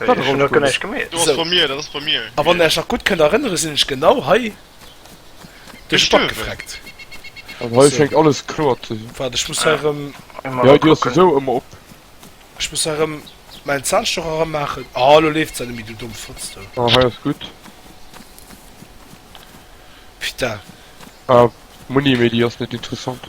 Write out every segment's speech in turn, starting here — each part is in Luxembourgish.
Wat erëm guer nech gemeet. Dat ass bei mir, dat ass bei mir. A wann der ech nach gutt kënnt erënnere sinn ech genau hei duerch d'Bank gefreckt. An hei schéngt alles kloer ze sinn. Waart, ech muss hei erëm. Jo, du hues se esou ëmmer op. Ech muss hei erëm mäin Zahnstocher eranmaachen. Ah, elo leeft se net méi, du domm Fotz do. Ah, hei ass gutt. Pita. Ah, Monni, mee déi ass net interessant.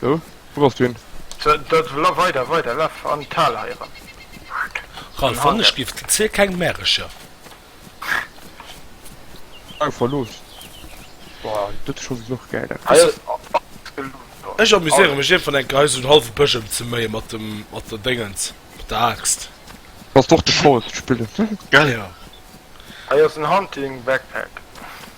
So, wou bass du hin? So, dat, laf weider, weider, laf an d'Hal hei eran. Ralph, wann ech giff, ziel keng Märecher. Au verlooss. Boah, dat scho genuch gäil dat. Hei ass alles gelooss do. Ech amuséiere mech ierfgwann enker hei so'n halwe Bësch emzeméien mat dem, mat der Déngens, mat der Aaxt. Bass d'och de Forest spillen? Gäll, jo. Hei ass en Hunting Backpack.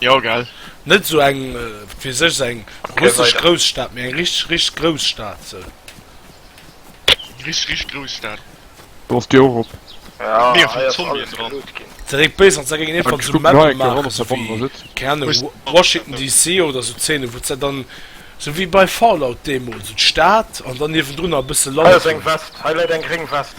Jo gell net sou eng fir sech seng russesch Grousstad mé eng richteg richteg Grousstad se richteg richteg Grousstad do ass déi och op Mier vun Zombien dran se réit béis an se géing een Fall zu Mapppe maachen esou wéi keng Ahnung Washington DC oder sou Zeene wou se dann sou wéi bei Fallout deemools sou d'Stad an dann niewendrunner e bësse Land hei läit eng gréng West.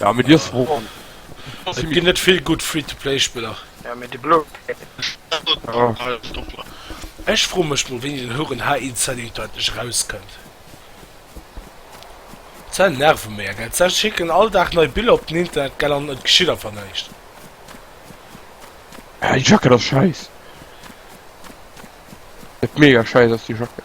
Ja mit dir froh an Et ginn net vill gutt Free-to-Play Spiller. Ja mee déi blo Ech froe mech mol wéini den Houren HInsideUta endlech erauskënnt. Sou nerven mär gell. Sou schécken all Dag nei Biller op den Internet gell an et geschitt einfach näischt. Ja déi Jacket ass schäiss. Mega schäiss ass déi Jacket.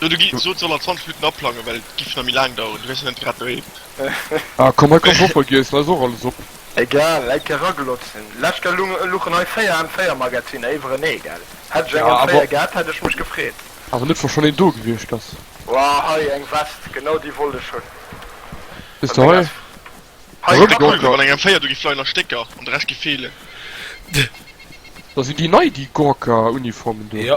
Jo du gi sot soll er 20 Minutten aplangen well et giff nach méi laang daueren, du wäers jo net grad doheem. Ah komm hei komm Woffer giess, lass och alles op. Egal, eng Kéier raglotzen. Lescht Kéier luchen hei 4 an 4 Magaziner iwwerenee gell? Hätt ech eng an 4 gehat hätt ech mech gefreet. Awer net wa schon een do gewiescht ass. Wouah hei eng Vest, genau déi wollt ech hunn. Siehst du hei. Hei wär cool wann eng an 4 do giff leien a Stécker an de Rescht giff feelen. Da sinn déi nei déi Gorka Uniformen do. Jo.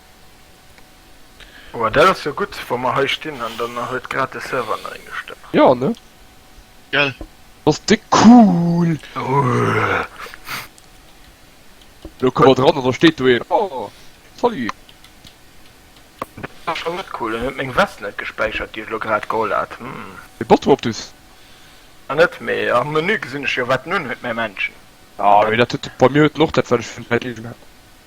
Oh, dat ass jo gutt, wa mer hei stinn an dann huet grad de Server neien gestëmmt. Ja, ne? Gell? Ass de cool! Lo komme mer dran an da steet do een. Oh, salut! Dat ass scho net cool. En huet meng Vest net gespäichert, déi ech lo grad geholl hat. Hm. De Bottom op d'Us? Ah, net? Mee am Menü gesinn ech jo, wat en unhuet, mä Männchen. Ah, mee dat huet. Bei mir huet en och dat, wat ech vun Zäit leeën hat.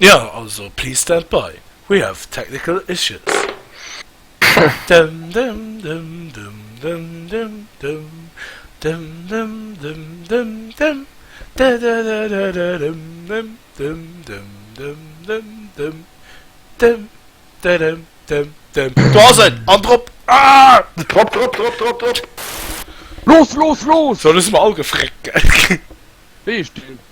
Jo, also please stand by, we have technical issues. Do ass et! An drop! Drop, drop, drop, drop, drop! Los, los, los! Sou, elo si mer all gefréckelt. Wéi heescht deen?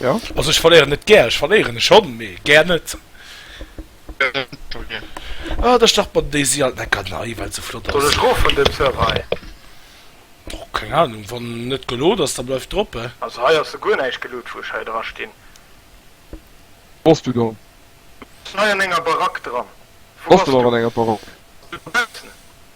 Jo. Also ech verléieren net gär, ech verléieren e schonn, mee gär net. Ah, da start mer déi si alt necker nei, well se flott ass. Soll ech rof vun dem Server hei? Boah, keng Ahnung, wann en net geload ass, da bleift drop he. Also hei ass sou guer näischt geload wou ech hei dra stinn. Wou ass du do? Ech sinn hei an enger Barack dran. Wou ass du? Bass du och an enger Barack? Dobaussen.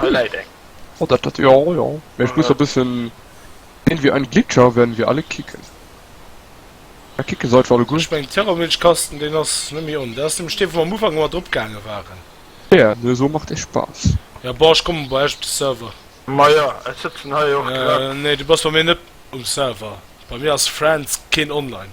Hei läit eng. Oh dat dat jo jo mee ech muss e bëssen sinn wéi ein Glitcher werden wir alle kicken a kicke seit wou gutt. Ech mengen Terrormilchkasten deen ass net méi on dat ass nämlech dee wou mer am Ufank mat drop gaange waren. Tja nu esou macht e Spaass. Jo bon ech kommen bei eech op de Server. Majo ech sëtzen hei och grad. Nee du bass bei mir net um Server bei mir ass Friends keen online.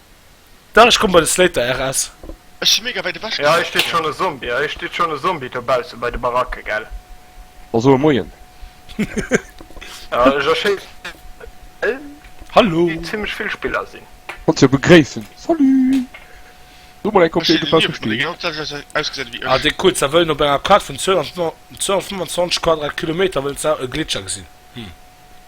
Dach ech komm bei de Slater RS. Ech si mega wäit ewech gefuer. Hei steet schon e Zombie, hei steet schon e Zombie dobaussen bei de Baracke gell. Also e Moien. Ech erschéissen well Hallo. Et zimmlech vill Spiller sinn. Konnt se jo begréissen. Salut. Do mol eng Kopie dobausse stinn. Ah dee Kuerzer wëllen op enger Kaart vun 225 Quadratkilometer wëllen se e Gletscher gesinn. Hm.